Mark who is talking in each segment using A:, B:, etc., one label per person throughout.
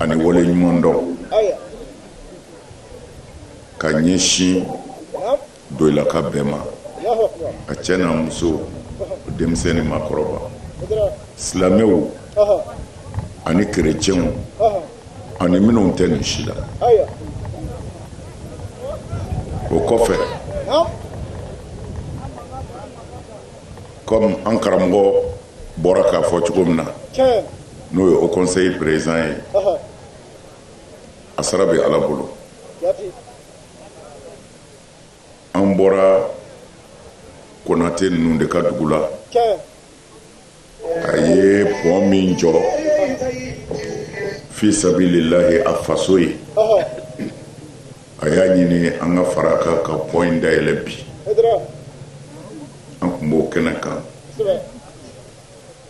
A: ani wale ɲuman dɔn ka ɲɛsin doyilaka bɛɛ ma a cɛ n'a muso denmisɛn ni maakɔrɔba silamɛw ani kerecɛnw ani minnu tɛ nin si la o kɔfɛ kɔmi an karamɔgɔ bɔra k'a fɔ cogo min na n'o ye o kɔnseyi perezidan ye a sara bɛ ala bolo an bɔra konate ninnu de ka dugu la a ye pɔn min jɔ fi sabililahi a faso ye a y'a ɲini an ka fara kan ka pɔn in dayɛlɛ bi an tun b'o kɛnɛ kan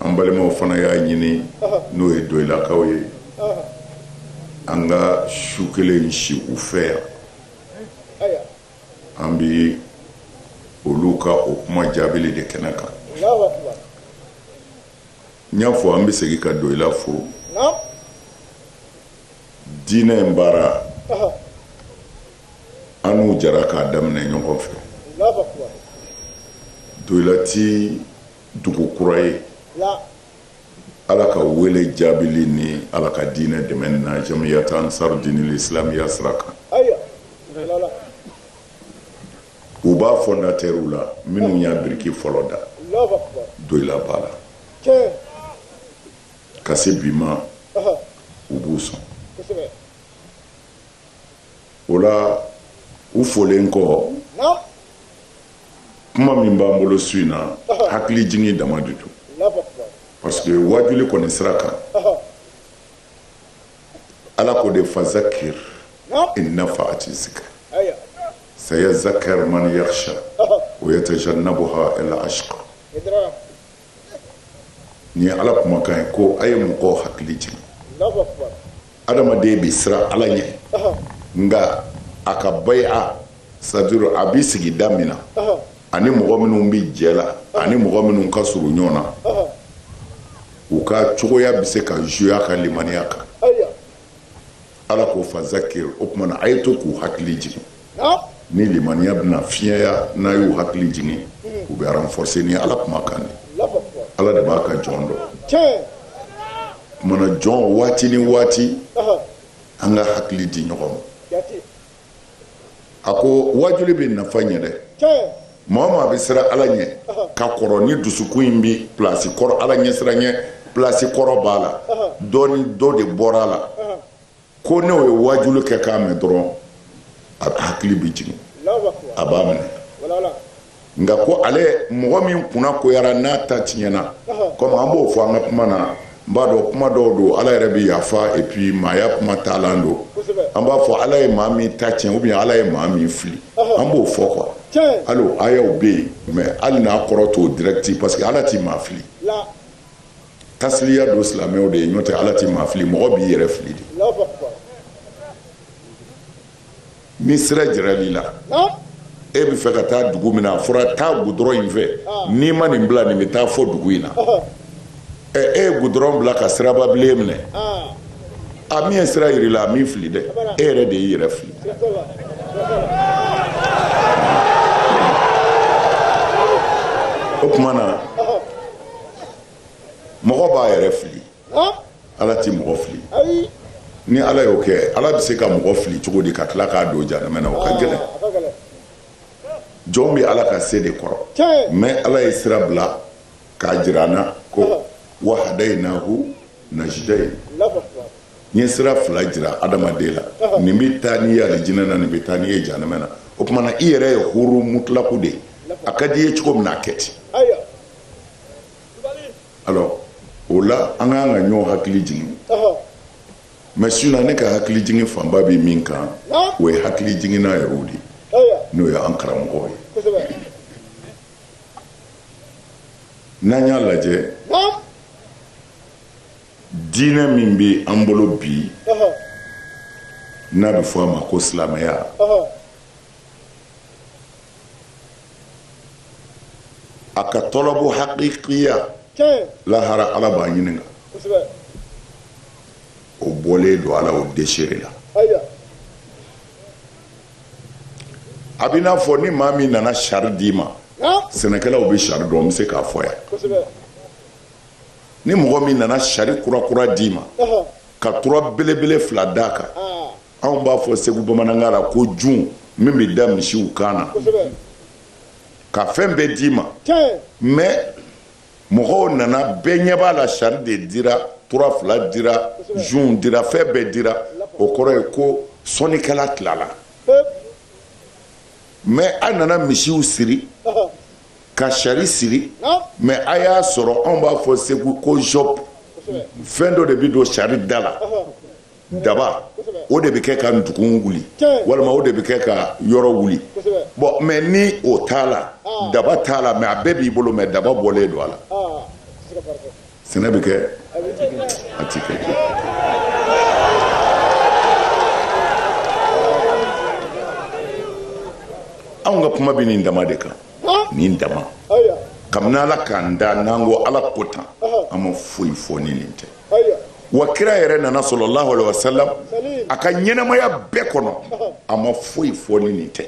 A: an balimaw fana y'a ɲini n'o ye doyilakaw ye an ka su kelen si u fɛ yan an bɛ olu ka o kuma jaabili de kɛnɛ kan n y'a fɔ an bɛ segin ka doyila fo diinɛ in baara an n'u jara k'a daminɛ ɲɔgɔn fɛ doyila ti dugu kura ye ala ka wele jaabili ni ala ka diinɛ dɛmɛ na jamiyata ansar dinil islamiya sira kan u b'a fɔndatɛriw la minnu y'a biriki fɔlɔ da doyila b'a la ka se bi ma u b'u sɔn o la u folen kɔ kuma min b'an bolo su in na hakili jigin dama de don parce que waajuli kɔni sira kan ala ko de fazakir in nafaati zikir sayazakaru man yakhsha wa yatajannabuha al ashqa nin ye ala kumakan ye ko a ye mɔgɔw hakili jigin adamaden bɛ siran ala ɲɛ nka a ka bayia c'est-à-dire a bɛ sigida min na ani mɔgɔ minnu bɛ jɛ la ani mɔgɔ minnu ka surun ɲɔgɔn na u ka cogoya bɛ se ka jouer a ka limaniya kan ala ko fazakir o tuma na a ye to k'u hakili jigin ni limaniya bɛna fiɲɛya n'a y'u hakili jigin u bɛ renforcer ni ala kuma kan di ala de b'a ka jɔn dɔn o tuma na jɔn waati ni waati an ka hakili di ɲɔgɔn ma a ko wajuli bɛ nafa ɲɛ dɛ maa o maa bɛ siran ala ɲɛ ka kɔrɔ ni dusukun in bɛ plasi kɔrɔ ala ɲɛ siran ɲɛ plasi kɔrɔ b'a la dɔ dɔ de bɔra a la ko n'o ye wajuli kɛ k'a mɛn dɔrɔn a hakili bɛ jigin a b'a minɛ nka ko ale mɔgɔ min kunnagoyara n'a ta tiɲɛna kɔmi an b'o fɔ an ka kuma na n b'a dɔn kuma dɔw don ala yɛrɛ bɛ yafa et puis maaya kuma taalan don an b'a fɔ ala ye maa min ta tiɲɛ ou bien ala ye maa min fili an b'o fɔ quoi hali o ayaw bɛ yen mais hali n'a kɔrɔ t'o direct parce que ala ti maa fili tasliya don silamɛw de ye n'o tɛ ala ti maa fili mɔgɔ b'i yɛrɛ fili de ni sira jiral'i la e bɛ fɛ ka taa dugu min na a fɔra taa gudɔrɔn in fɛ n'i ma nin bila nin bɛ taa fɔ dugu in na e ye gudɔrɔn bila ka sirababilen minɛ a min ye sira jir'i la a m'i fili dɛ e yɛrɛ de y'i yɛrɛ fili o tuma na mɔgɔ b'a yɛrɛ fili ala tɛ mɔgɔ fili ni ala y'o kɛ ala bɛ se ka mɔgɔ fili cogo di ka tila k'a don jahanama na o ka gɛlɛn jɔn bɛ ala ka se de kɔrɔ mais ala ye sira bila k'a jira an na ko wa hadaynahu najdayn n ye sira fila jira adamaden la nin bɛ taa n'i ye alijinɛ na nin bɛ taa n'i ye jahanama na o tumana i yɛrɛ ye huru mutlaku de ye a ka di i ye cogo min na a kɛ ten o la an kan ka ɲɔgɔn hakili jigin mais su in na ne ka hakili jigin fanba bɛ min kan o ye hakili jiginna yɛrɛw de n'o ye an karamɔgɔw ye n'an y'a lajɛ diinɛ min bɛ an bolo bi n'a bɛ fɔ a ma ko silamɛya a ka tɔlɔbɔ hakikiya lahara ala b'a ɲininka o bɔlen don ala o desere la a b'i n'a fɔ ni maa min nana sari d'i ma sɛnɛkɛlaw bɛ sari dɔn n bɛ se k'a fɔ yan ni mɔgɔ min nana sari kurakura d'i ma ka tura belebele fila d'a kan anw b'a fɔ segu bamanankan la ko jun min bɛ da misiw kan na ka fɛn bɛɛ d'i ma mɛ mɔgɔw nana bɛɛ ɲɛ b'a la sari de dira tura fila dira jun dira fɛn bɛɛ dira o kɔrɔ ye ko sɔnnikɛla tilala mɛ a nana misiw siri ka sari siri mɛ a y'a sɔrɔ anw b'a fɔ segu ko jɔp fɛn dɔ de bɛ don sari da la daba o de bɛ kɛ ka dugu wuli walima o de bɛ kɛ ka yɔrɔ wuli bɔn mɛ ni o t'a la daba t'a la mɛ a bɛɛ b'i bolo mɛ daba bɔlen don a la sɛnɛ bɛ kɛ a tɛ kɛ anw ka kuma bɛ nin dama de kan nin dama kabini ala k'an da n'an ko ala ko tan an ma foyi fɔ ni nin tɛ wa kira yɛrɛ nana sallallahu alaihi wasallam a ka ɲɛnamaya bɛɛ kɔnɔ a ma foyi fɔ ni nin tɛ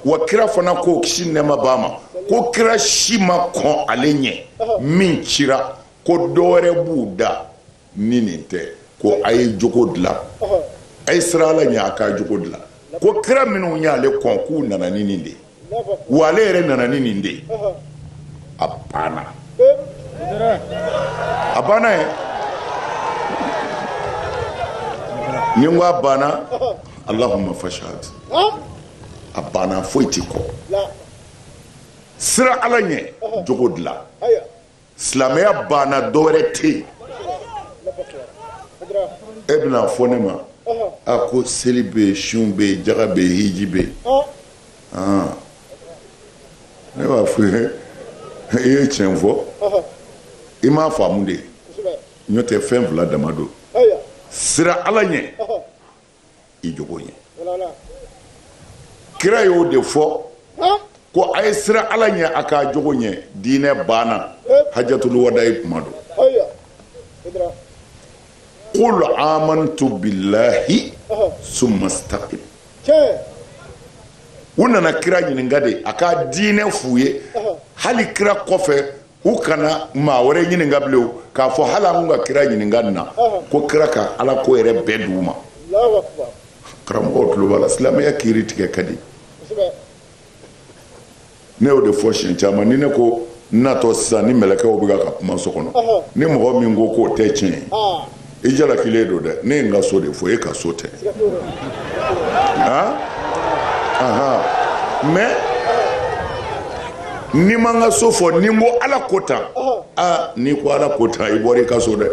A: wa kira fana ko kisi nɛɛma b'a ma ko kira si ma kɔn ale ɲɛ min cira ko dɔwɛrɛ b'u da ni nin tɛ ko a ye jogo dilan a ye sira ala ɲɛ a k'a jogo dilan ko kira minnu y'ale kɔn k'u nana ni nin de ye wa ale yɛrɛ nana ni nin de ye a banna a banna ye ni n ko a banna allahumma fashhad a banna foyi tɛ kɔ sira ala ɲɛ jogo dilan silamɛya banna dɔwɛrɛ tɛ yen e bɛna fɔ ne ma a ko seli bɛ yen sun bɛ yen jaga bɛ yen hiji bɛ yen ah. ne b'a fɔ i ye tiɲɛ fɔ i m'a faamu de n'o tɛ fɛn fila dama don sira ala ɲɛ i jogo ɲɛ kira y'o de fɔ ko a ye sira ala ɲɛ a k'a jogo ɲɛ diinɛ banna hajatul wada'i kuma don qul amantu billahi summa istaqim u nana kira ɲininka de a ka diinɛ f'u ye hali kira kɔfɛ u kana maa wɛrɛ ɲininka bilen k'a fɔ hali an ka kira ɲininka nin na ko kira ka ala ko yɛrɛ bɛɛ d'u ma karamɔgɔw tulo b'a la silamɛya kiri tigɛ ka di ne y'o de fɔ siɲɛ caman ni ne ko n natɔ sisan ni mɛlɛkɛw bɛ ka kuma so kɔnɔ ni mɔgɔ min ko k'o tɛ tiɲɛ ye i jalakilen don dɛ ne ye n ka so de fɔ e ka so tɛ han ahan mais ni n ma n ka so fɔ ni n ko ala ko tan aa n'i ko ala ko tan i bɔra i ka so dɛ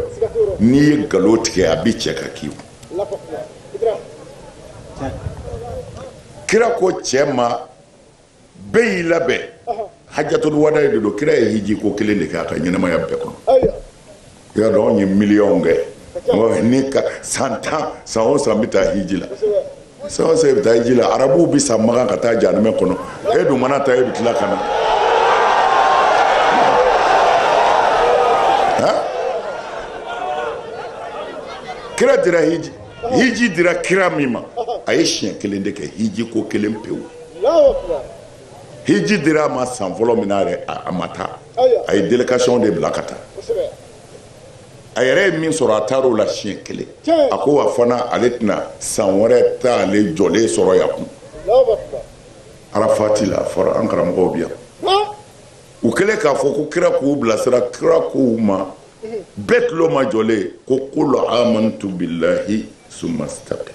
A: n'i ye nkalon tigɛ a bɛ cɛ ka k'i kun kira ko cɛ ma bɛɛ y'i labɛn hajjatul wadayi de don kira ye hiji ko kelen de kɛ a ka ɲɛnamaya bɛɛ kɔnɔ i y'a dɔn anw ye miliyɔnw kɛ ni ka san tan san o san bɛ taa hiji la san o san bɛ taa hiji la arabuw bɛ sa makan ka taa jahanama kɔnɔ e dun mana taa e bɛ tila ka na kira dira hiji hiji dira kira min ma a ye siɲɛ kelen de kɛ hiji ko kelen pewu hiji dira a ma san fɔlɔ min na yɛrɛ a ma taa a ye délégation de bila ka taa a yɛrɛ ye min sɔrɔ a taar'o la siɲɛ kelen a ko wa fana ale tɛna san wɛrɛ t'ale jɔlen sɔrɔ yan kun arafati la a fɔra an karamɔgɔw bi yan u kɛlen k'a fɔ ko kira k'u bilasira kira k'u ma bɛɛ tulo majɔlen ko qul amantu billahi summa istaqim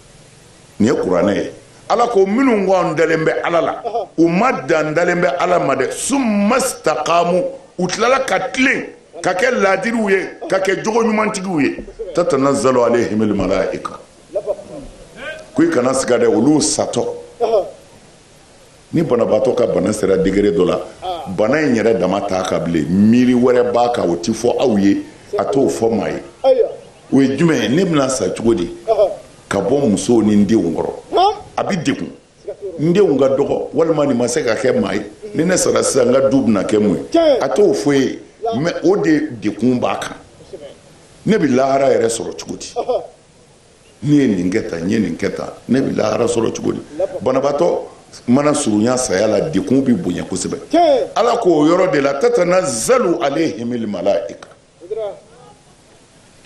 A: nin ye kuranɛ ye ala ko minnu ko an dalen bɛ ala la u ma dan dalen bɛ ala ma dɛ summa istaqamu u tilala ka tilen ka kɛ laadiriw ye ka kɛ jogo ɲumantigiw ye tatanazzalu alayhimul malaika ko i kana siga dɛ olu satɔ ni banabaatɔ ka bana sera degré dɔ la bana in yɛrɛ dama t'a kan bilen miiri wɛrɛ b'a kan o tɛ fɔ aw ye a t'o fɔ maa ye o ye jumɛn ye ne bɛna sa cogo di ka bɔ musow ni n denw kɔrɔ a bɛ degun n denw ka dɔgɔ walima nin ma se ka kɛ maa ye ni ne sara sisan n ka du bɛna kɛ mun ye a t'o fɔ i ye mais o de degun b'a kan ne bɛ lahara yɛrɛ sɔrɔ cogo di Ne ye nin kɛ tan n ye nin kɛ tan ne bɛ lahara sɔrɔ cogo di banabaatɔ mana surunya saya la degun bɛ bonya kosɛbɛ ala k'o yɔrɔ de la tatanazzalu alayhimul malaika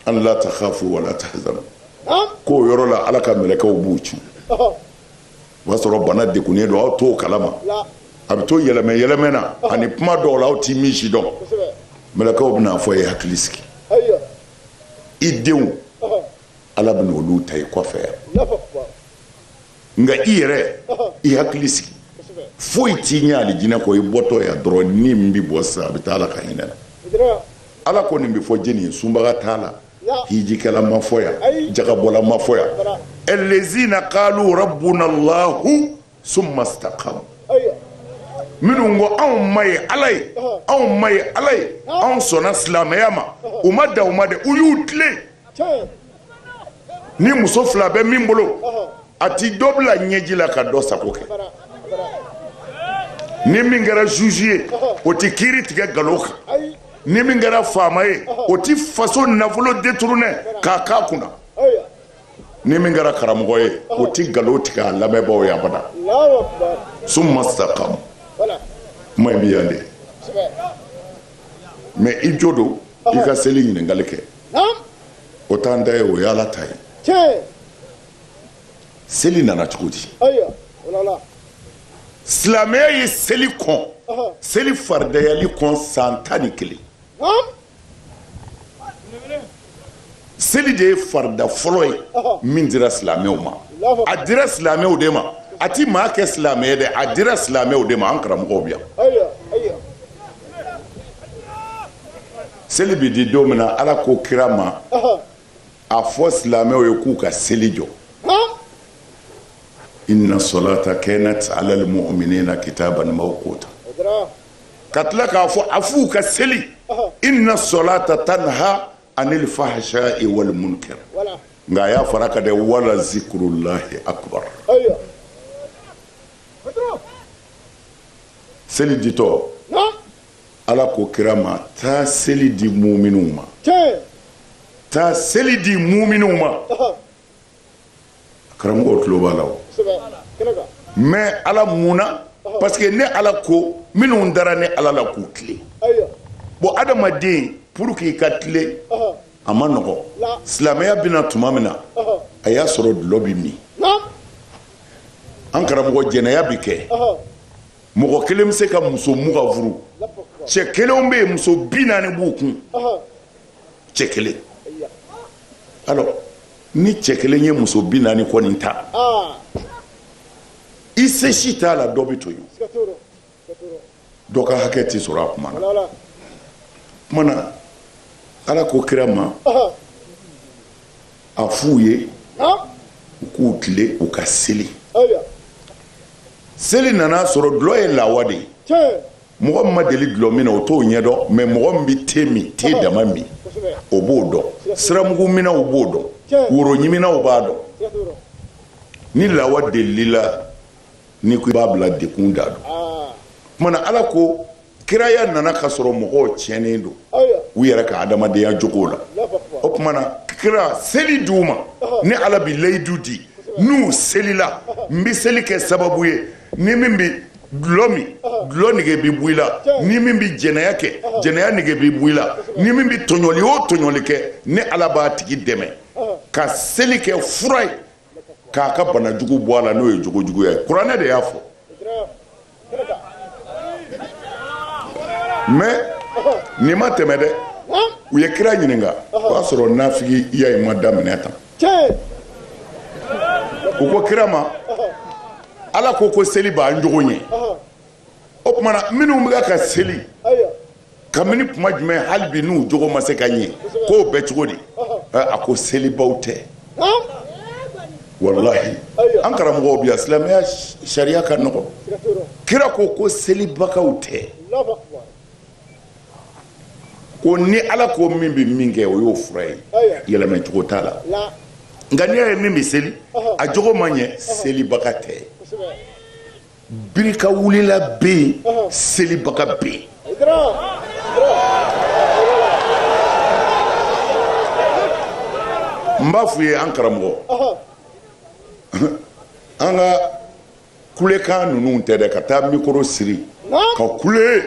A: an la takhafu wa la tahzanu k'o yɔrɔ la ala ka mɛlɛkɛw b'u ci o b'a sɔrɔ bana degunnen don aw t'o kalama a bɛ to yɛlɛmɛ yɛlɛmɛ na ani kuma dɔw la aw tɛ min si dɔn mɛlɛkɛw bɛn'a fɔ a ye hakili sigi i denw ala bɛna olu ta i kɔfɛ yan nka i yɛrɛ i hakili sigi foyi t'i ɲɛ alijinɛ kɔ i bɔtɔ yan dɔrɔn ni min bɛ bɔ sisan a bɛ taa ala ka hinɛ la ala ko nin bɛ fɔ jɛni ye sunbaga t'a la hijikɛla ma fɔ yan jakabɔla ma fɔ yan allazina qalu rabbunallah summa staqamu minnu ko anw ma ye ala ye anw ma ye ala ye anw sɔnna silamɛya ma u ma dan o ma dɛ u y'u tilen ni muso fila bɛ min bolo a ti dɔ bila ɲɛji la ka dɔ sago kɛ ni min kɛra juge ye o ti kiiri tigɛ nkalon kan ni min kɛra faama ye o ti faso nafolo détourné k'a k'a kunna ni min kɛra karamɔgɔ ye o ti nkalon tigɛ a lamɛnbaaw ye abada summa staqamu kuma in bɛ yan de mais i jo don i ka seli ɲininkali kɛ o t'an ta ye o ye Ala ta ye seli nana cogo di silamɛya ye seli kɔn seli faridayali kɔn san tan ni kelen Seli de ye farida fɔlɔ ye min dira silamɛw ma a dira silamɛw de ma a tɛ maa kɛ silamɛ dɛ a dira silamɛw de ma an karamɔgɔw bɛ yan seli bɛ di don min na ala k'o kira ma a fɔ silamɛw ye k'u ka seli jɔ inna salata kanat alal mu'minina kitaban mawquta ka tila k'a fɔ a f'u ka seli inna salata tanha anil fahsha'i wal munkar nka a y'a fara a kan dɛ wala zikrullahi akbar seli ditɔ ala ko kira ma taa seli di muminu ma taa seli di muminu ma karamɔgɔ tulo b'a la o mais ala mun na parce que ne ala ko minnu dara ne ala la k'u tilen bon adamaden pour k'i ka tilen a man nɔgɔn silamɛya bɛna tuma min na a y'a sɔrɔ dulɔ bɛ min an karamɔgɔ jɛnɛya bɛ kɛ mɔgɔ kelen bɛ se ka muso mugan furu cɛ kelenw bɛ yen muso bi naani b'u kun cɛ kelen alors ni cɛ kelen ye muso bi naani kɔni ta ah. i se si t'a la dɔ bɛ to yen dɔ ka hakɛ tɛ sɔrɔ a kuma na o kuma na ala ko kira ma a f'u ye ah. u k'u tilen u ka seli seli nana sɔrɔ dulɔ ye lawa de ye mɔgɔ min ma deli dulɔ min na o t'o ɲɛdɔn mais mɔgɔ min bɛ te min te dama min o b'o dɔn siramugu minnaw b'o dɔn woro ɲiminaw b'a dɔn ni lawa delila ni ko i b'a bila dekun da don kuma na ala ko kiraya nana ka sɔrɔ mɔgɔw tiɲɛnen don u yɛrɛ ka adamadenya jogo la o kuma na kira seli di u ma ni ala bi layidu di n'u selila n bɛ seli kɛ sababu ye ni min bɛ dulɔ min dulɔ nege bɛ bɔ i la ni min bɛ jɛnɛya kɛ jɛnɛya nege bɛ bɔ i la ni min bɛ tɔɲɔli o tɔɲɔli kɛ ni ala b'a tigi dɛmɛ ka seli kɛ fura ye k'a ka bana jugu bɔ a la n'o ye jogo juguya ye kuranɛ de y'a fɔ mais nin ma tɛmɛ dɛ u ye kira ɲininka o y'a sɔrɔ nafigiya in ma daminɛ tan u ko kira ma ala ko ko seli b'an jogo ɲɛ o tuma na minnu bɛ ka seli kabini kuma jumɛn hali bi n'u jogo ma se ka ɲɛ k'o bɛ cogo di a ko selibaw tɛ walahi an karamɔgɔw bi a silamɛya sariya ka nɔgɔn kira ko ko selibagaw tɛ ko ni ala ko min bɛ min kɛ o y'o fura ye yɛlɛmɛcogo t'a la nka n'i y'a ye min bɛ seli a jogo ma ɲɛ selibaga tɛ birikawulila bɛ yen selibaga bɛ yen n b'a f'u ye an karamɔgɔ an ka kulekan ninnu tɛ dɛ ka taa mikoro siri ka kule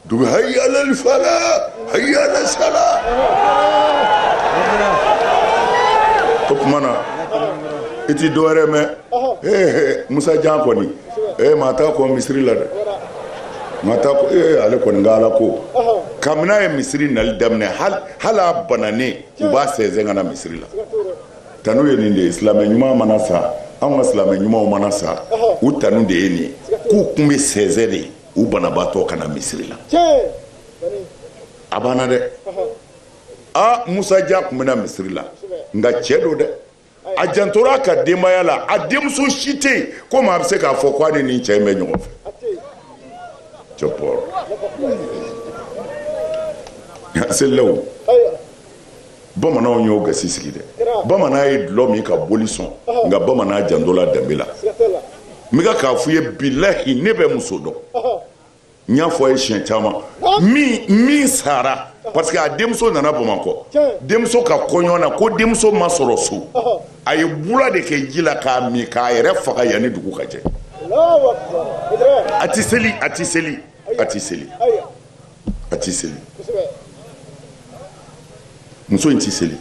A: dugu haya alal fala haya alal sala o tuma na i tɛ dɔwɛrɛ mɛn ee musa jan kɔni ee maa t'a kɔn misiri la dɛ maa t'a kɔn ee ale kɔni ka ala ko kabini a ye misiri nali daminɛ hali a bananen u b'a sɛnsɛn ka na misiri la tanu ye nin de ye silamɛ ɲuman mana sa anw ka silamɛ ɲumanw mana sa u tanu de ye nin ye k'u kun bɛ sɛnsɛn de u banabaatɔ ka na misiri la a banna dɛ aa musa jan kun bɛ na misiri la nka cɛ don dɛ a jantora a ka denbaya la a denmuso si tɛ yen ko maa bɛ se k'a fɔ ko a ni nin cɛ in bɛ ɲɔgɔn fɛ cɛ bɔrɔ a selilaw bamananw y'o gasi sigi dɛ bamanan ye dulɔ min ka boli sɔn nka bamanan jantola danbe la n bɛ k'a fɔ i ye bilahi ne bɛ muso dɔn n y'a fɔ a ye siɲɛ caman min sara parce que a denmuso nana bamakɔ denmuso ka kɔɲɔ na ko denmuso ma sɔrɔ so a ye bula de kɛ ji la k'a min k'a yɛrɛ faga yanni dugu ka jɛ a tɛ seli a tɛ seli a tɛ seli a ti seli muso in ti seli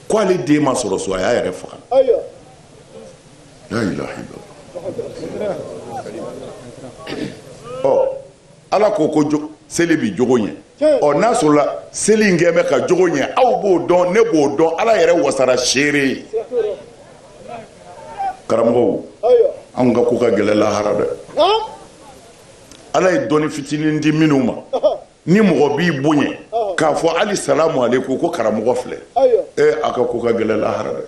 A: ko ale den ma sɔrɔ so a y'a yɛrɛ faga ɔ ala ko ko seli bi jogo ɲɛ ɔ n'a sɔrɔla seli in kɛ bɛ ka jogo ɲɛ aw b'o dɔn ne b'o dɔn ala yɛrɛ wasara seere ye karamɔgɔw anw ka ko ka gɛlɛ lahara dɛ ala ye dɔnni fitinin di minnu ma ni mɔgɔ b'i bonya k'a fɔ hali salamu aleykum ko karamɔgɔ filɛ e a ka ko ka gɛlɛ lahara dɛ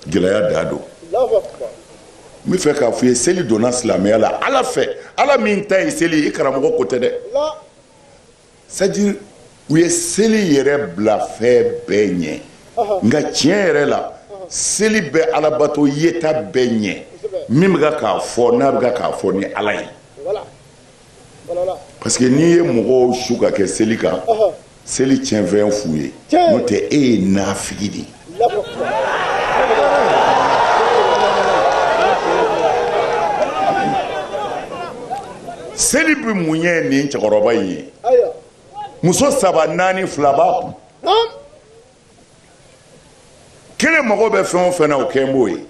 A: gɛlɛya da don n bɛ fɛ k'a fɔ i ye seli donna silamɛya la ala fɛ ala min ta ye seli i karamɔgɔ ko tɛ dɛ c'est-à-dire u ye seli yɛrɛ bila fɛn bɛɛ ɲɛ nka tiɲɛ yɛrɛ la seli bɛ alabato yeta bɛɛ ɲɛ min bɛ k'a fɔ n'a bɛ k'a fɔ ni ala ye parce que n'i ye mɔgɔw su ka kɛ seli kan seli tiɲɛfɛn f'u ye n'o tɛ e ye nafigi de ye Seli bɛ mun ɲɛ nin cɛkɔrɔba in ye muso saba naani fila b'a kun kelen mago bɛ fɛn o fɛn na o kɛ b'o ye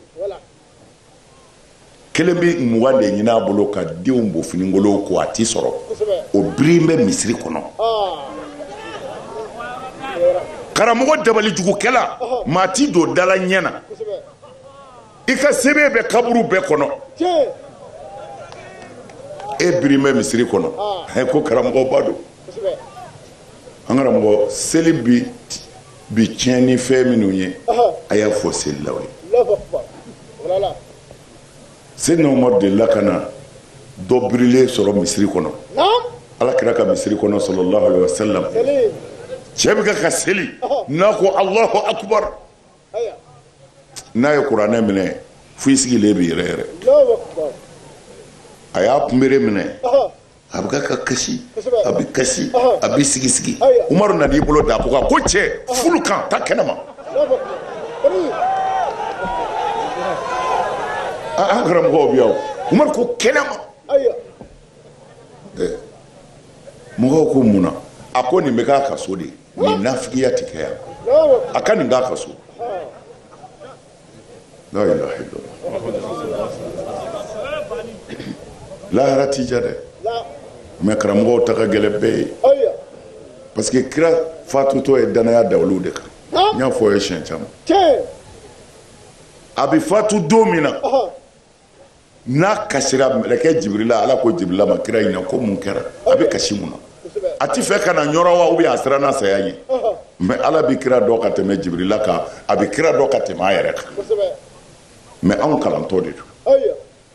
A: kelen bɛ mugan de ɲini a bolo ka denw bo finikolon ko a ti sɔrɔ o biri bɛ misiri kɔnɔ karamɔgɔ dabalijugukɛla maa t'i don dala ɲɛ na i ka sɛbɛn bɛ kaburu bɛɛ kɔnɔ e biri bɛ misiri kɔnɔ ko karamɔgɔba don an karamɔgɔ seli bi bi tiɲɛ ni fɛn minnu ye a y'a fɔ selilaw ye seyidina umaru delila ka na dɔ birilen sɔrɔ misiri kɔnɔ ala kira ka misiri kɔnɔ salalahu alaihi wasalam cɛ bɛ ka ka seli n'a ko alahu akubar n'a ye kuranɛ minɛ fo i sigilen bɛ yɛrɛyɛrɛ a y'a kunbere minɛ a bɛ ka ka kasi a bɛ kasi a bɛ sigisigi umaru nana i bolo d'a kɔ kan ko cɛ wuli k'an ta kɛnɛ ma an karamɔgɔw bɛ yan umaru ko kɛnɛ ma mɔgɔw ko mun na a ko nin bɛ k'a ka so de ye nin nafigiya tɛ kɛ yan a ka nin k'a ka so la ilaha illallah lahara tɛ diya dɛ mais karamɔgɔw ta ka gɛlɛn bɛɛ ye aya parce que kira fatutɔ ye danaya da olu de kan n y'a fɔ aw ye siɲɛ caman tiɲɛ a bɛ fatu don min na ɔhɔ n'a kasira mɛlɛkɛ jibirila ala ko jibirila ma kira ɲininka ko mun kɛra a bɛ kasi mun na a tɛ fɛ ka na n yɔrɔ wa ou bien a siranna saya ɲɛ mais ala bɛ kira dɔn ka tɛmɛ jibirila kan a bɛ kira dɔn ka tɛmɛ a yɛrɛ kan mais anw kalantɔ de don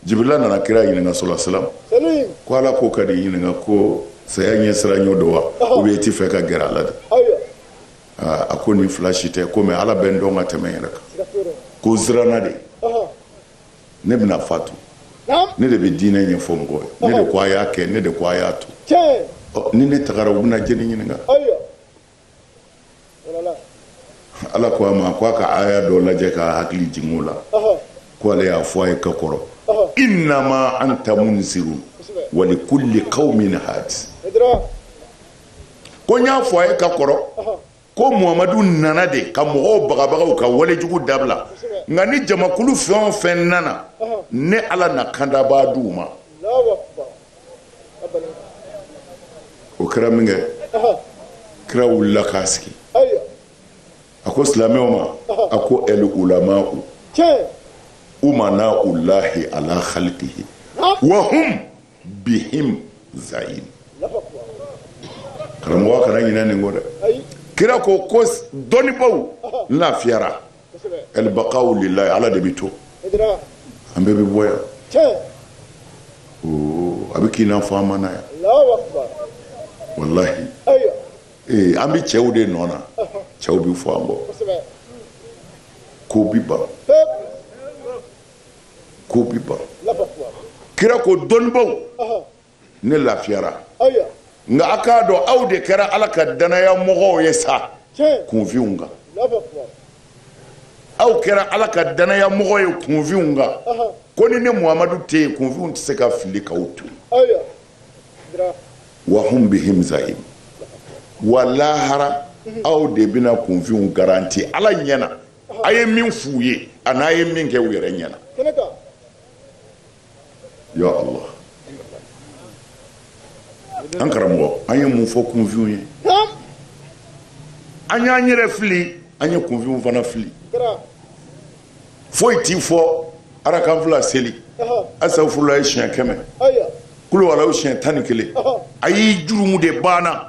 A: jibirila nana kira ɲininka sallallahu alaihi wasallam ko ala ko ka n'i ɲininka ko saya ɲɛ siranɲɛ don wa ou bien i tɛ fɛ ka gɛrɛ a la de a ko nin fila si tɛ ko mais ala bɛ n dɔn ka tɛmɛ n yɛrɛ kan ko n siranna de ne bɛna fatu ne de bɛ diinɛ ɲɛfɔ mɔgɔw ye ne de ko a y'a kɛ ne de ko a y'a to ni ne tagara u bɛna jɛni ɲininka ala ko a ma ko a ka aya dɔ lajɛ k'a hakili jigin o la ko ale y'a fɔ a ye ka kɔrɔ innama anta munzirun wa likulli qaumin hadi ko n y'a fɔ a ye ka kɔrɔ ko muhamadu nana de ka mɔgɔw bagabaga u ka walejugu dabila nka ni jamakulu fɛn o fɛn nana ne ala na kandabaa di u ma o kɛra minkɛ kira wulila ka sigi a ko silamɛw ma a ko el ulama'u umana'ullahi ala khalqihi wa hum bihim zaim karamɔgɔ kana ɲinɛ nin kɔ dɛ kira ko ko dɔnnibaaw lafiyara el baqa'u lillahi ala de bɛ to an bɛɛ bɛ bɔ yan a bɛ k'i n'a fɔ an ma na yan walahi ee an bɛ cɛw de nɔ na cɛw bɛ fɔ an kɔ ko bi ban ko bi ban kira ko dɔnnibaw ne lafiyara nka a k'a dɔn aw de kɛra ala ka danaya mɔgɔw ye sa kunfinw kan aw kɛra ala ka danaya mɔgɔ ye kunfinw kan ko ni ne muhamadu tɛ yen kunfinw tɛ se ka fili k'aw to wa hum bihim zaim wa lahara aw de bɛna kunfinw garanti ala ɲɛ na a ye min f'u ye an'a ye min kɛ u yɛrɛ ɲɛna ya ala an karamɔgɔ an ye mun fɔ kunfinw ye an y'an yɛrɛ fili an ye kunfinw fana fili foyi t'i fɔ arakan fila seli asafurulayi siɲɛ kɛmɛ kuluwalahu siɲɛ tan ni kelen a y'i jurumu de banna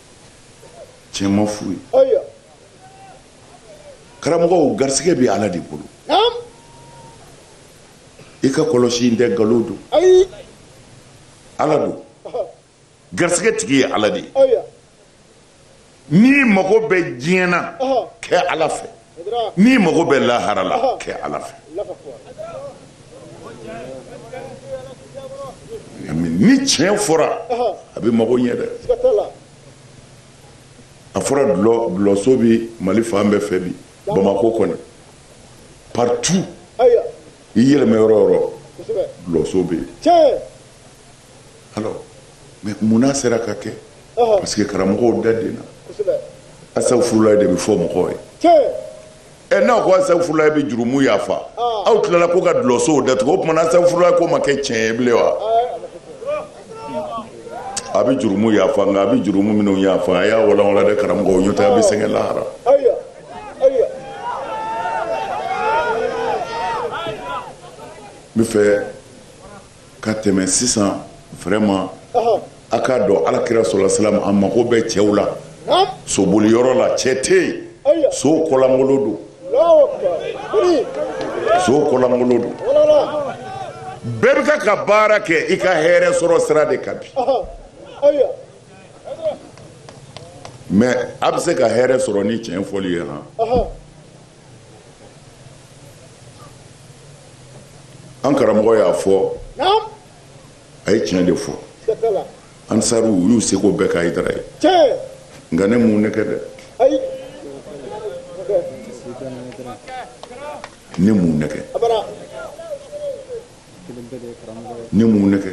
A: tiɲɛ ma f'u ye karamɔgɔw garisɛgɛ bɛ ala de bolo i ka kɔlɔsi in tɛ nkalon don ala don garisɛgɛ tigi ye ala de ye n'i mago bɛ diɲɛ na kɛ ala fɛ n'i mago bɛ lahara la kɛ ala fɛ ni tiɲɛ fɔra a bɛ mago ɲɛ dɛ a fɔra dulɔso bɛ mali fan bɛɛ fɛ bi bamakɔ kɔni partout i yɛlɛmɛ yɔrɔ o yɔrɔ dulɔso bɛ yen munna sera ka kɛ parce que karamɔgɔw da den na asafurulayi de bɛ fɔ mɔgɔw ye ɛ n'aw ko asafurulayi bɛ jurumu yafa aw tilala ko ka dulɔsow datugu o tuma na asafurulayi ko ma kɛ tiɲɛ ye bilen wa a bɛ jurumu yafa nka a bɛ jurumu minnu yafa a y'a walanwala dɛ karamɔgɔw n'o tɛ a bɛ sɛgɛn lahara n bɛ fɛ ka tɛmɛ sisan vraiment a k'a dɔn ala kira sɔla salam a mago bɛ cɛw la soboli yɔrɔ la cɛ tɛ yen so kɔlankolo don so kɔlankolo don bɛɛ bɛ k'a ka baara kɛ i ka hɛrɛ sɔrɔ sira de kan bi mais a bɛ se ka hɛrɛ sɔrɔ ni tiɲɛ fɔli ye han. an karamɔgɔ y'a fɔ a ye tiɲɛ de fɔ ansariw y'u seko bɛɛ kɛ hayidara ye nka ne mun ne kɛ dɛ ne mun ne kɛ ne mun ne kɛ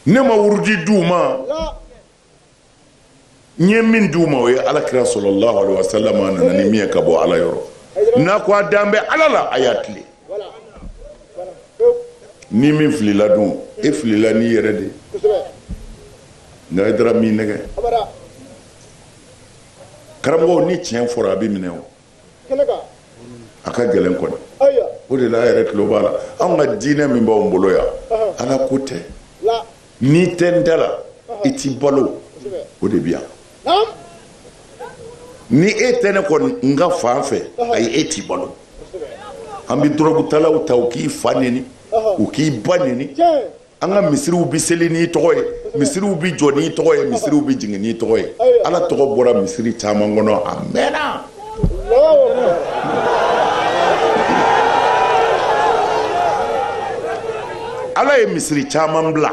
A: ne ma wurudi di u ma n ye min di u ma o ye ala kira sɔlɔlahu alaihi wasallam a nana ni min ye ka bɔ ala yɔrɔ n'a ko a dan bɛ ala la a y'a tilen ni min filila dun e filila n'i yɛrɛ de nka hayidara m'i nɛgɛn karamɔgɔw ni tiɲɛ fɔra a bɛ minɛ o a ka gɛlɛn kɔni o de la a yɛrɛ tulo b'a la anw ka diinɛ min b'an bolo yan ala ko tɛ n'i tɛ n da la i t'i balo o de bɛ yan ni e tɛ ne kɔni n ka fan fɛ ayi e t'i balo an bɛ dɔrɔgutalaw ta u k'i fa neni u k'i ba neni an ka misiriw bɛ seli n'i tɔgɔ ye misiriw bɛ jɔ n'i tɔgɔ ye misiriw bɛ jigin n'i tɔgɔ ye ala tɔgɔ bɔra misiri caman kɔnɔ a mɛnna ala ye misiri caman bila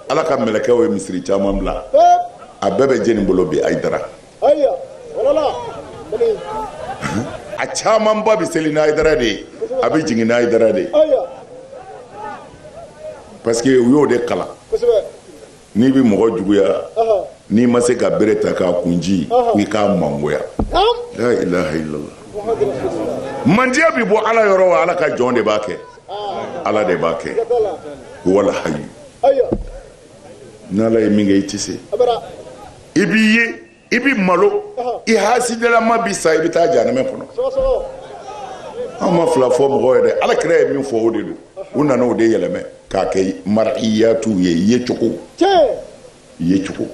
A: ala ka mɛlɛkɛw ye misiri caman bila a bɛɛ bɛ jeni bolo bi hayidara a camanba bɛ seli ni hayidara de ye a bɛ jigin ni hayidara de ye parce que u y'o de kalan n'i bɛ mɔgɔ juguya n'i ma se ka bere ta k'a kun ci i k'a mangoya la ilaha illallah mandiya bɛ bɔ ala yɔrɔ wa ala ka jɔn de b'a kɛ ala de b'a kɛ walahayi n'ala ye min kɛ i tɛ se i b'i ye i bɛ malo i hasidalama bɛ sa i bɛ taa jahanama kɔnɔ an ma fila fɔ mɔgɔ ye dɛ ala kira ye min fɔ o de don u nana o de yɛlɛmɛ k'a kɛ mariyatu ye yecogo yecogo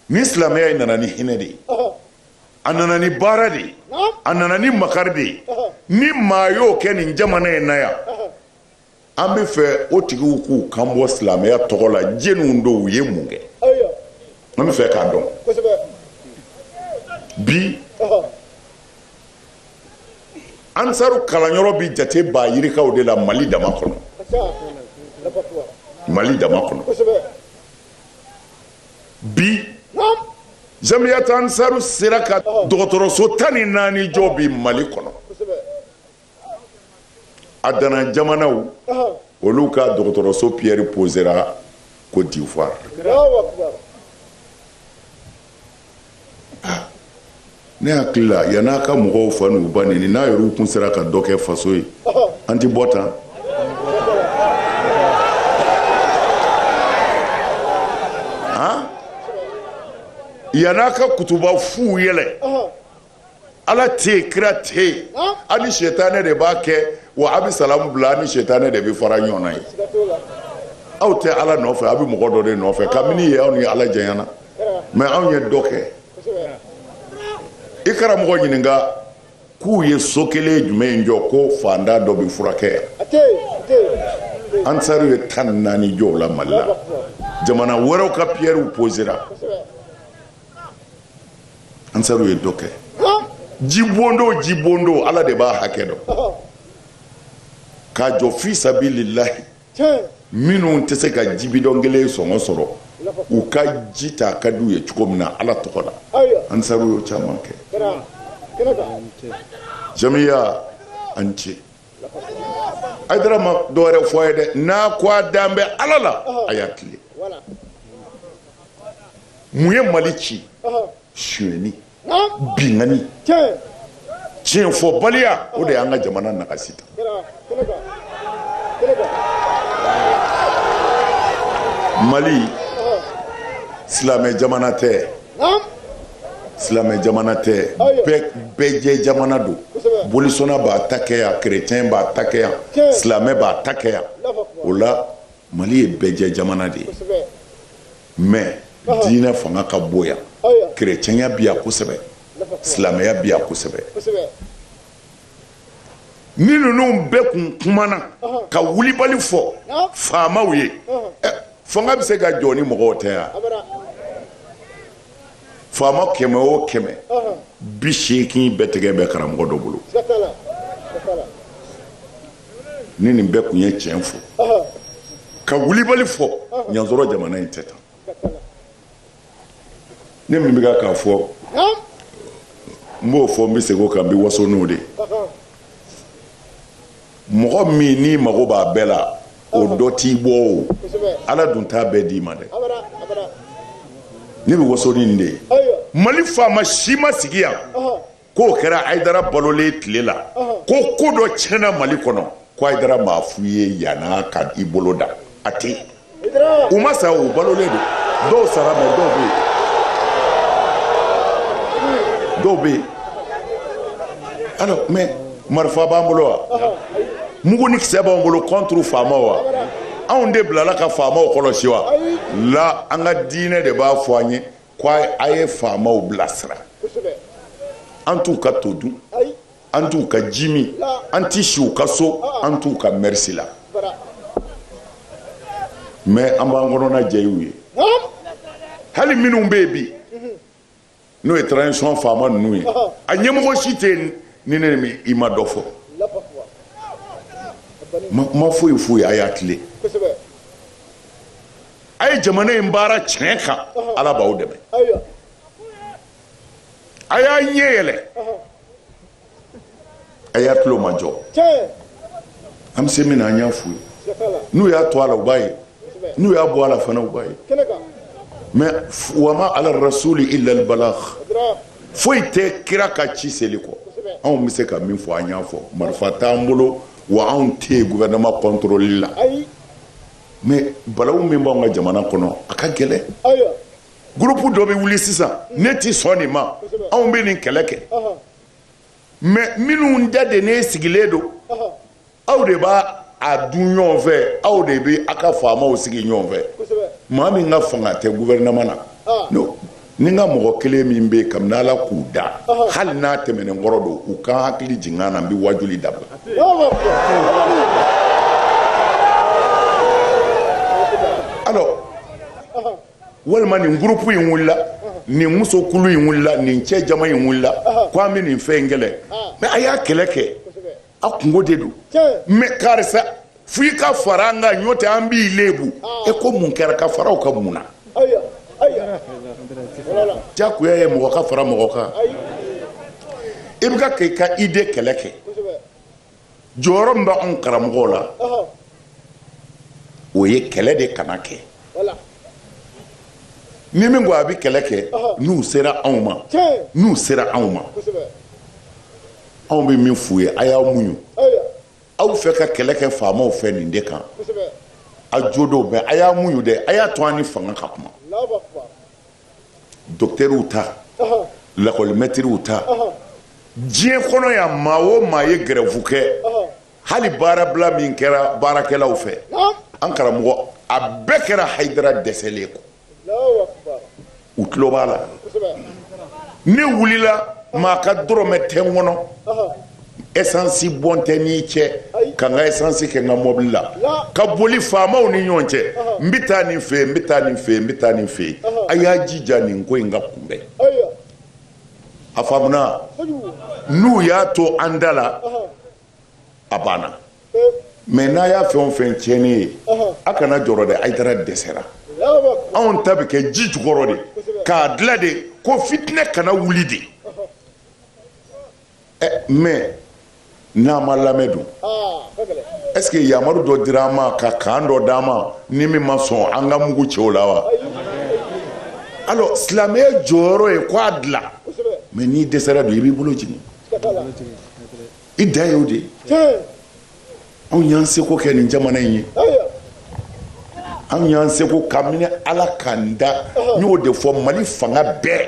A: ni silamɛya in nana ni hinɛ de ye a nana ni baara de ye a nana ni makari de ye ni maa y'o kɛ nin jamana in na yan an bɛ fɛ o tigiw k'u kan bɔ silamɛya tɔgɔ la jeniw don u ye mun kɛ an bɛ fɛ k'a dɔn bi ansaru kalanyɔrɔ bɛ jate ba yirikaw de la mali dama kɔnɔ mali dama kɔnɔ bi jamiyata ansaru sera ka dɔgɔtɔrɔso tan ni naani jɔ bi mali kɔnɔ a dana jamanaw olu ka dɔgɔtɔrɔso piyɛri posera kɔdiwari ne hakili la yanni a ka mɔgɔw fa n'u ba neni n'a yɛrɛw kun sera ka dɔ kɛ faso ye an ti bɔ tan yanni a ka kutuba fuw yɛlɛ ala tɛ yen kira tɛ yen a ni sɛtanɛ de b'a kɛ wa a bɛ salamu bila a ni sɛtanɛ de bɛ fara ɲɔgɔn na yen aw tɛ ala nɔfɛ a bɛ mɔgɔ dɔ de nɔfɛ kabini yen aw ni ala janyana mais anw ye dɔ kɛ i karamɔgɔ ɲininka k'u ye so kelen jumɛn jɔ ko faantan dɔ bɛ furakɛ yan ansaru ye tan naani jɔ la mali la jamana wɛrɛw ka piyɛriw posera ansaru ye dɔ kɛ jibondo jibondo ala de b'a hakɛ dɔn k'a jɔ fi sabilillahi minnu tɛ se ka ji bidɔn kelen sɔngɔ sɔrɔ u ka ji ta ka di u ye cogo min na ala tɔgɔ la ansaru y'o caman kɛ jamiya an ce ayidara ma dɔ wɛrɛ fɔ a ye dɛ n'a ko a dan bɛ ala la a y'a tilen mun ye mali ci sonyɛni binkanni tiɲɛfɔbaliya o de y'an ka jamana nagasi tan mali silamɛ jamana tɛ silamɛ jamana tɛ bɛɛ jɛ jamana don bolisɔnna b'a ta kɛ yan kerecɛn b'a ta kɛ yan silamɛ b'a ta kɛ yan o la mali ye bɛɛ jɛ jamana de ye mais diinɛ fanga ka bon yan kerecɛnya bi yan kosɛbɛ silamɛya bi yan kosɛbɛ ni ninnu bɛɛ kun kumana ka wulibali fɔ faamaw ye eh, fanga bɛ se ka jɔ ni mɔgɔw tɛ yan faama kɛmɛ o kɛmɛ biseegin bɛɛ tɛgɛ bɛ karamɔgɔ dɔ bolo ni nin bɛɛ kun ye tiɲɛ fɔ ka wulibali fɔ i n'a sɔrɔ jamana in tɛ tan ne min bɛ ka k'a fɔ n b'o fɔ n bɛ segin o kan n bɛ waso n'o de mɔgɔ min n'i mago b'a bɛɛ la o dɔ t'i bolo ala dun t'a bɛɛ d'i ma dɛ ne bɛ waso ni nin de ye mali faama si ma sigi yan k'o kɛra ayidara balolen tile la ko ko dɔ tiɲɛna mali kɔnɔ ko ayidara m'a f'u ye yan a ka i bolo da a tɛ u ma sa u balolen don dɔw sara mais dɔw bɛ yen dɔw bɛ yen alors mais marifa b'an bolo wa mugu ni kisɛ b'an bolo contre faamaw wa anw de bilala ka faamaw kɔlɔsi wa la an ka diinɛ de b'a fɔ an ye ko a ye faamaw bilasira an t'u ka to dun an t'u ka ji min an tɛ si u ka so an t'u ka merci la mais an b'an kɔnɔna jɛy'u ye hali minnu bɛ yen bi n'o ye transition faama ninnu ye a ɲɛmɔgɔ si tɛ yen ni ne ni i ma dɔ fɔ ma foyi foyi a y'a tilen a ye jamana in baara tiɲɛ kan ala b'aw dɛmɛ a y'a ɲɛ yɛlɛ a y'a tulo majɔ an bɛ se min na an y'a f'u ye n'u y'a to a la u b'a ye n'u y'a bɔ a la fana u b'a ye mais wa ma ala rasuli illa al balagh foyi tɛ kira kan ci seli kɔ anw bɛ se ka min fɔ an y'a fɔ marifa t'an bolo wa anw tɛ gouvernement contrôle la mais balawu min b'anw ka jamana kɔnɔ a ka gɛlɛn groupe dɔ bɛ wuli sisan ne tɛ sɔn nin ma anw bɛ nin kɛlɛ kɛ mais minnu da de ne sigilen don aw de b'a a dun ɲɔgɔn fɛ aw de bɛ a ka faamaw sigi ɲɔgɔn fɛ maa min ka fanga tɛ gouvernement na ni n ka mɔgɔ kelen min bɛ yen kabini ala k'u da hali n'a tɛmɛnen kɔrɔ don u ka hakili jigin an na n bɛ wajuli dabila alors walima nin groupe in wulila nin musokulu in wulila nin cɛ jama in wulila ko an bɛ nin fɛn in kɛlɛ mais a y'a kɛlɛ kɛ a kunko de don mais karisa fo i ka fara an kan ɲɔtɛ an b'i lebu e ko mun kɛra ka fara aw kan mun na jagoya ye mɔgɔ ka fara mɔgɔ kan i bɛ ka ka i ka idée kɛlɛ kɛ jɔyɔrɔ min b'anw karamɔgɔw la o ye kɛlɛ de kana kɛ ni min ko a bɛ kɛlɛ kɛ n'u sera anw ma anw bɛ min f'u ye a y'a muɲu aw fɛ ka kɛlɛ kɛ faamaw fɛ nin de kan a jo don mais a y'a muɲu dɛ a y'a to an ni fanga ka kuma docteurw ta lakɔlimɛtiriw ta diɲɛ kɔnɔ yan maa o maa ye gɛrɛfu kɛ hali baarabila min kɛra baarakɛlaw fɛ an karamɔgɔ a bɛɛ kɛra hayidara dɛsɛlen kɔ u tulo b'a la ne wulila maa ka dɔrɔmɛ tɛ n kɔnɔ esansi bon tɛ n'i cɛ ka n ka esansi kɛ n ka mɔbili la ka boli faamaw ni ɲɔgɔn cɛ n bɛ taa nin fɛ n bɛ taa nin fɛ n bɛ taa nin fɛ a y'a jija nin ko in ka kunbɛn a faamuna n'u y'a to an da la a banna mais n'a y'a fɛn o fɛn tiɲɛnen ye a kana jɔrɔ dɛ hayidara dɛsɛra anw ta bɛ kɛ ji jukɔrɔ de k'a dilan de ko fitinɛ kana wuli de mais n'an ma lamɛn don est-ce que yamaru dɔ dira an ma ka kan dɔ d'an ma ni min ma sɔn an ka mugu ci o la wa alors silamɛya jɔyɔrɔ ye k' a dilan mais n'i dɛsɛra don i b'i bolo jigin i da ye o de ye anw y'an seko kɛ nin jamana in ye anw y'an seko ka minɛ ala k'an da n y'o de fɔ mali fanga bɛɛ